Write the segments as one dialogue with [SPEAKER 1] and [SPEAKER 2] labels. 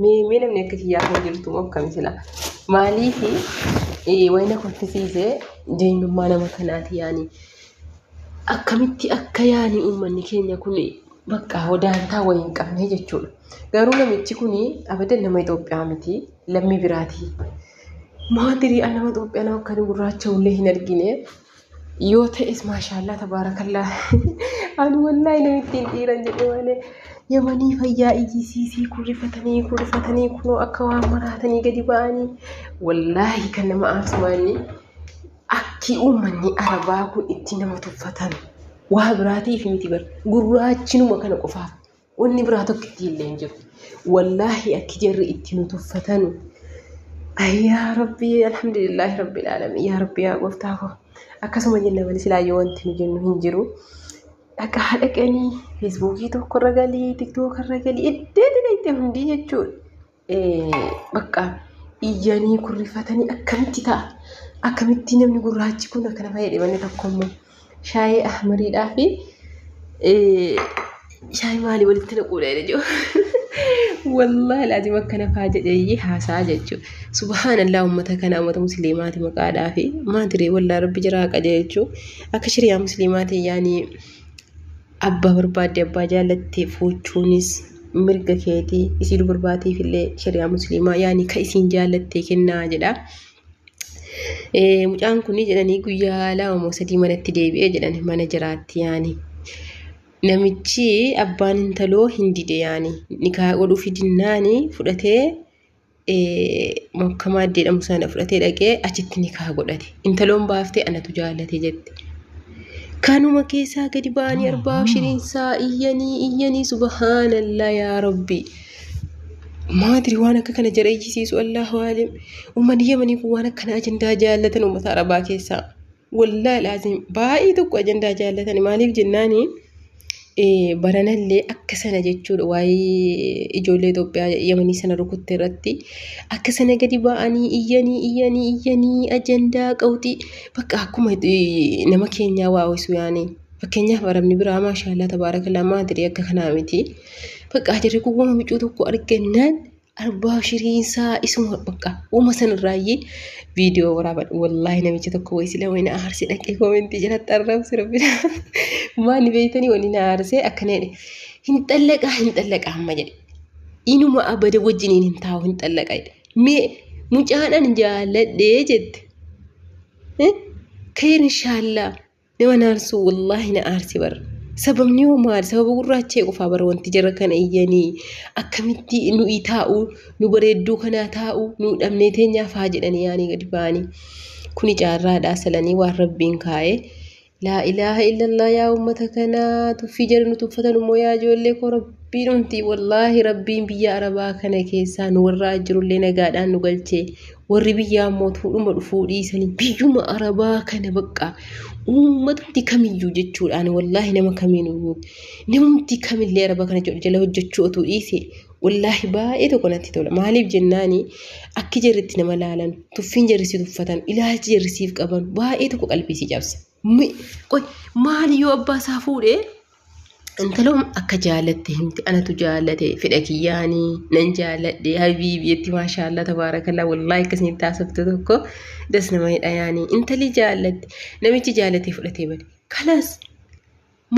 [SPEAKER 1] Mee mee namni akka kiyyaa kan jirtu moo akkami sila maaliifi eh, wayna koffisiise jeenyummaa nama kanaati yaani akkamitti akka yaani uummanni keenya kun bakka hodaantaa wayii hin qabne jechuudha garuu namichi kun abadan nama Itoophiyaa miti lammii biraati maatirii nama Itoophiyaa nama akkana gurraacha ullee hin argine Yoo ta'es maashaallah tabaarakallah. Ani wallahi namittiin dhiiran jedhe malee yamanii fayyaa iyyisiisii kun rifatanii kun rifatanii kunoo akka waan maraatanii gadi ba'anii wallahi kan nama aarsumaanii akki uummanni arabaa kun itti nama tuffatan waa biraatiif miti bar gurraachinuma kana qofaaf Wanni biraa tokkittii illee hin jiru. Wallaahi akki jarri itti nu tuffatanu. Ay yaa rabbi alhamdulillaahi rabbi ilaalame yaa rabbi yaa gooftaa koo. Akkasuma jenna malee silaa yoo wanti nu jennu hin jiru. Dhaqa haa dhaqanii feesbuukii tokko irra galii tiktook irra galii iddee dalaydee hundii jechuudha. Bakka iyyanii kurrifatanii akkamitti ta'a? Akkamitti namni gurraachi kun akkana fayyadhe manni tokko immoo shaayii ahmariidhaa fi shaayii maalii walitti naquudha jedhe jiru. Wallahi laazim akkana faa jedhee haasaa jechuudha. Subhaanallah uummata kana uummata musliimaati maqaadhaa fi maati ree wallahi rabbi jiraa qajeelchuu akka shiriyaa musliimaatiin yaanii Abbaa barbaadde abbaa jaalatte fuuchuunis mirga keeti isii dubarbaatiif illee shari'aa musliimaa yaani ka isiin jaalatte kennaa jedha. Eh, Mucaan kun jedhanii guyyaa lama moo sadii manatti deebi'ee jedhan mana jiraatti yaani. Namichi abbaan intaloo hin dide yaani nikaa godhuufi dinnaani fudhatee Akka maaddee jedhamu sana fudhatee dhaqee achitti nikaa godhate. Intaloon baaftee anatu jaallate jette. Kanuma keessaa gadi ba'anii arbaa shiriinsaa iyyanii iyyanii subhaanallaa yaa rabbii. Maadri waan akka kana jara ijjisiisu Allahu alim. Uummanni Yamanii kun waan akkanaa ajandaa jaallatan uummata Arabaa keessaa. Wallahi alaaziim baay'ee tokko ajandaa jaallatani maaliif jennaani baranallee akka sana jechuudha waa'ee ijoollee Itoophiyaa yamanii sana rukutte irratti akka sana gadi ba'anii iyyanii iyyanii iyyanii ajandaa qawxii bakka akkuma nama keenyaa waa wasu yaanii fakkeenyaaf arabni biraa maashaallah tabaarakallaa maadirii akka kanaa miti bakka ajarri kun waan huccuu tokko argannaan Arbaa shirii isaa isuma bakka uuma sanirraayyii viidiyoo waraabadha. Wallaahi namicha tokko wayii sila wayii na aarse dhaqee koomentii jalatti arrabse rabbina. Maani beektanii wani na aarse akkana jedhe. Hin xallaqaa hin xallaqaa amma jedhe. Inuma abada wajjiniin hin taa'u hin xallaqa jedhe. Mee mucaadhaan jaalladhee jette. Keen inshaallah. Nama naarsu wallaahi na aarse bar. Sababni hoo maali? Sababa gurraachee qofaa bar wanti jara kana iyyanii akkamitti nu taa'u nu bareedduu kanaa taa'u nu dhabnee teenyaaf haa jedhanii yaanii gadi ba'anii. Kuni caarraadhaa salanii waan rabbiin kaa'ee. Laa ilaaha illallah yaa uummata kanaa tuffii jara nu tuffatan immoo yaa ijoollee koo rabbiin umti wallaahi rabbiin biyya arabaa kana keessaa nu warraa jirullee nagaadhaan nu galchee Warri biyyaa immoo tuudhuma dhufuu dhiisanii biyyuma arabaa kana bakka uummatni kamiyyuu jechuudhaan wallaahi nama kamiinuu namumti kamillee arabaa kana jala hojjechuu otuu dhiise wallaahi baay'ee tokko natti tola maaliif jennaani akki jarritti nama laalan tuffiin jarrisi tuffatan ilaalchi jarrisiif qaban baay'ee tokko qalbiisii cabsa. Qoy maali yoo abbaa isaa fuudhee Intaloom akka jaalatte himti anatu jaalate fedha kiyyaanii nan jaaladhe habiibi jetti maashaallah tabaarakallaa wallaahi akkasiin itti haasofte tokko das nama hidha yaanii intalii jaalatte namichi jaalatee fudhatee bade kalas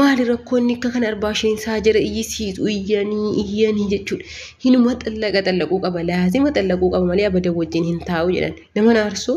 [SPEAKER 1] maali rakkoonni akka kana arbaasheen isaa jira iyyisiitu iyyanii iyyanii jechuudha hinuma xallaqa xallaquu qaba laazima xallaquu qaba malee abada wajjin hin taa'u jedhan nama naarsuu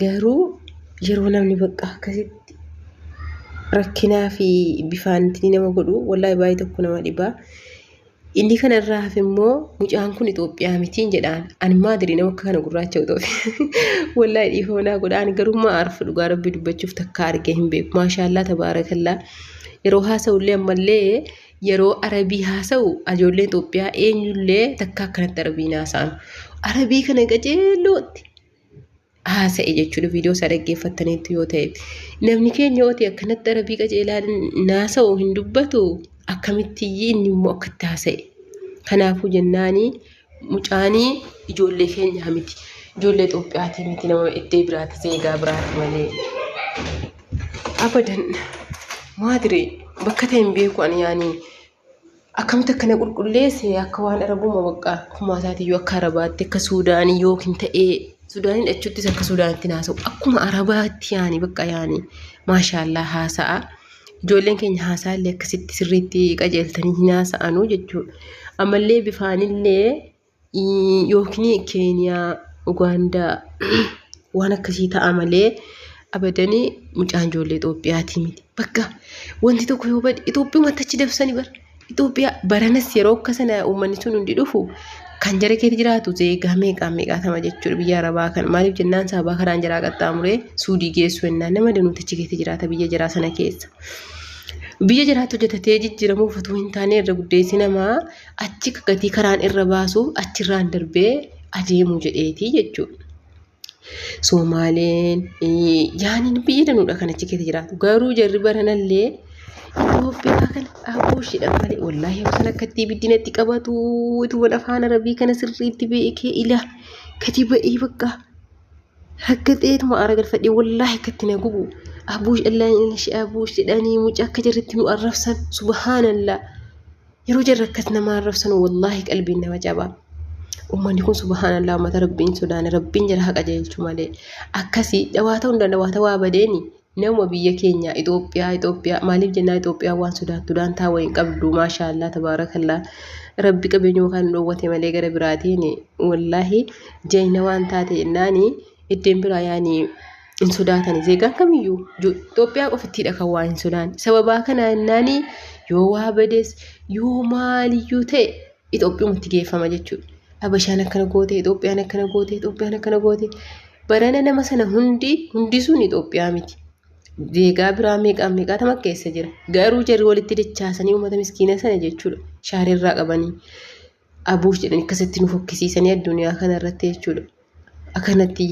[SPEAKER 1] Garuu yeroo namni bakka akkasitti rakkinaa fi bifaan ittiin nama godhu wallaahi baay'ee tokko nama dhibaa. Inni kana irraa hafe immoo mucaan kun Itoophiyaa mitiin jedhaan ani maadiri nama akka kana gurraacha Itoophiyaa wallaahi dhiifama naa godha ani garummaa arfa dhugaa rabbi dubbachuuf takka arge hin beeku maashaallaa tabaarakallaa yeroo haasa'ullee ammallee yeroo arabii haasa'u ajoolleen Itoophiyaa eenyullee takka akkanatti arabiin haasa'an arabii kana qajeelootti haasa'e jechuudha viidiyoo isaa dhaggeeffattaniitu yoo ta'e namni keenya oti akkanatti arabii qajeelaan naasa'u hin dubbatu akkamitti inni immoo akkatti haasa'e kanaafuu jennaanii mucaanii ijoollee keenya miti ijoollee Itoophiyaatii miti nama iddee biraati seegaa biraati malee abadan maadire bakka ta'e hin beeku ani yaanii Akkamitti akka na qulqulleesse akka waan arabuma bakka kumaa isaatiyyuu akka arabaatti akka suudaanii yookiin ta'ee suudaanii dhachuttis akka suudaanitti naasa'u akkuma arabaatti yaani bakka yaani maashaallaa haasa'a ijoolleen keenya haasaa illee akkasitti sirriitti qajeeltanii hin haasa'anuu jechuudha ammallee bifaanillee Yookiin Keeniyaa, Ugaandaa waan akkasii ta'a malee abadanii mucaan ijoollee Itoophiyaati miti. Bakka wanti tokko yoo bade Itoophiyumatti achi dabsanii bara. Itoophiyaa baranas yeroo akka sana uummanni sun hundi dhufu kan jara keessa jiraatu zeegaa meeqaa meeqaatama jechuudha biyya arabaa kan maaliif jennaan sababa karaan jaraa qaxxaamuree suudii geessu jennaan nama danuuti achi keessa jiraata biyya jaraa sana keessa. Biyya jiraatu hojjetatee jijjiiramuuf utuu hin taane irra guddeessi namaa achi gatii karaan irra baasu achirraan darbee adeemuu jedheetii jechuudha. Soomaaleen yaaniin biyya danuudha kan achi keessa jiraatu. Garuu jarri baranallee Itoophiyaa kana abbuushiidha malee wallaahi yoo san akkatti ibiddinatti qabatu ituman afaan arabii kana sirriitti beekee ila gadi ba'ee bakka rakkateetuma aara galfadhee wallaahi akkatti na gubu. Abbuush illaan ilshi abbuush jedhanii mucaa akka jarritti nu arrabsan subhaanallah. Yeroo jarri akkas nama arrabsan wallaahi qalbiin nama cabaa. Uummanni kun subhaanallaa uummata rabbiin sodaane rabbiin jara haqa jeelchu malee akkasii dhawaata hundaan dhawaata waa badeeni nama biyya keenya Itoophiyaa Itoophiyaa maaliif jennaa Itoophiyaa waan sodaattu daantaa wayiin qabdu maashaallaa tabaarakallaa rabbi qabeenyuma kan dhoowwate malee gara biraatiin wallaahi jayna waan taate jennaani iddeen biraa yaanii hin sodaatani zeegaan kamiyyuu Itoophiyaa qofittiidha kan waa hin sodaan sababaa kanaa innaani yoo waa bades yoo maaliyyuu ta'e Itoophiyumatti geeffama jechuudha. Abashaan akkana goote Itoophiyaan akkana goote Itoophiyaan akkana goote barana nama sana hundi hundi sun Itoophiyaa miti. Zeegaa biraa meeqaa meeqaa tama keessa jira garuu jarri walitti dachaasanii uummata miskiina sana jechuudha shaaree irraa qabanii. abuush jedhanii akkasitti nu fokkisiisanii addunyaa kana irratti jechuudha. Akkanatti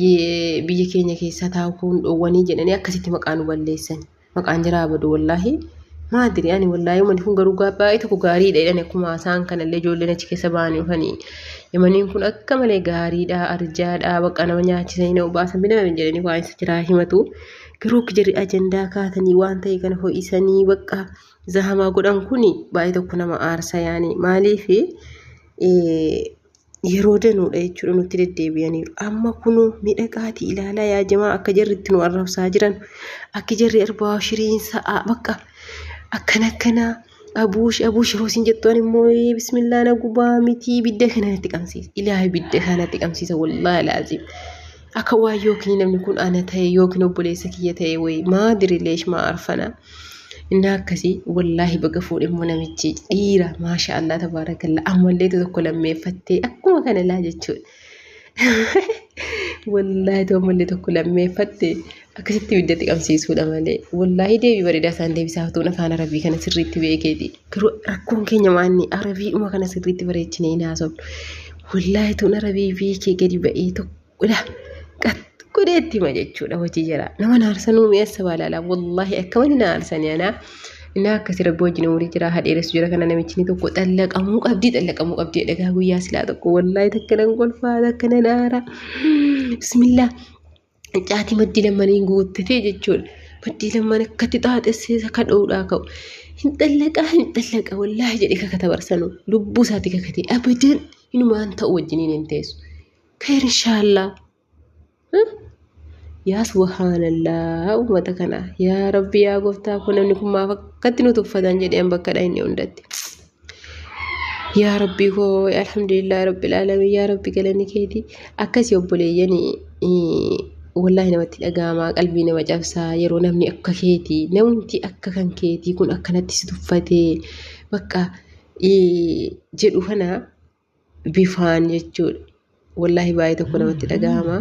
[SPEAKER 1] biyya keenya keessaa taa'u kun dhoowwanii jedhanii akkasitti maqaa nu balleessan. Maqaan jiraa badu wallaahi. Maadiri ani wallaahi uummanni kun garuu baay'ee tokko gaariidha jedhani akkuma isaan kanallee ijoolleen achi keessa ba'anii dhufanii. Yamaniin kun akka malee gaariidha arjaadha bakka nama nyaachisanii na obaasan bina hin jedhanii waan isa jiraa himatu. Garuu jirri ajandaa kaatanii waan ta'e kana ho'isanii bakka zahamaa godhan kun baay'ee tokko nama aarsa yaani maaliif yeroo danuudha jechuudha nutti deddeebi'aniiru amma kunuu midhagaatii ilaalaa yaa jamaa akka jarri itti nu arrabsaa jiran akki jarri arbaa shiriin sa'aa bakka akkana akkanaa abuush abuush yeroo isin jettuan immoo "Ee, bismillaa na gubaa mitii ibidda kana natti qabsiisa ilaa ibidda kana natti qabsiisa wallaahi laaziim akka waan yookiin namni kun ana ta'e yookiin obboleessa kiyya ta'e wayi maa dirileesh maa arfanaa Innaa akkasii wallaahi baga fuudhe immoo namichi dhiira maasha Allah tabaarakalla ammallee tokko lammeeffattee akkuma kana laa jechuudha. Wallaahi ta'u ammallee tokko lammeeffatte akkasitti ibidda xiqamsiisuudha malee wallaahi deebii bareedaa isaan deebisaa tuun afaan arabii kana sirriitti beekeeti. Garuu rakkoon keenya maanni arabiidhuma kana sirriitti bareechinee hin haasofnu. Wallaahi tuun arabii beekee gadi ba'ee tokko. Godha. Godhee itti hima jechuudha hojii jira. Nama na aarsanuu mi'eessa baalaalaa. Wallaahi akkamani na aarsanii anaa. Innaa akkasii rabbi wajjin umurii jira hadheeressu jira kana namichini tokko xallaqamuu qabdii xallaqamuu qabdii dhagaa guyyaa silaa tokko wallaahi takka nan golfaa takka nan aara. Bismillah. Caatii maddii lammaniin guuttatee jechuudha. Maddii lamman akkatti xaaxessee isa kadhuudhaa ka'u. Hin xallaqaa hin xallaqa wallaahi jedhee kakata barsanuu. Lubbuu isaati kakatee abadan hinumaan ta'u wajjiniin hin teessu. Kayr inshallah. Yaa subhaanallaa uummata kana yaa rabbi yaa gooftaa kun namni kun maaf akkatti nu tuffatan jedheen bakka dhayne hundatti. Yaa rabbi koo alhamdulillah rabbil alamin yaa rabbi galanni keeti akkasii obboleeyyan wallaahi namatti dhaga'amaa qalbii nama cabsaa yeroo namni akka keeti namumti akka kan keetii kun akkanatti si tuffatee bakka jedhu kana bifaan jechuudha. Wallaahi baay'ee tokko namatti dhagahama.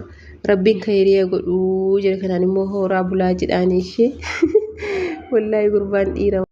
[SPEAKER 1] Rabbiin kayiriya godhuu jira kanaan immoo hooraa bulaa jedhaanii ishee. Wallaahi gurbaan dhiira.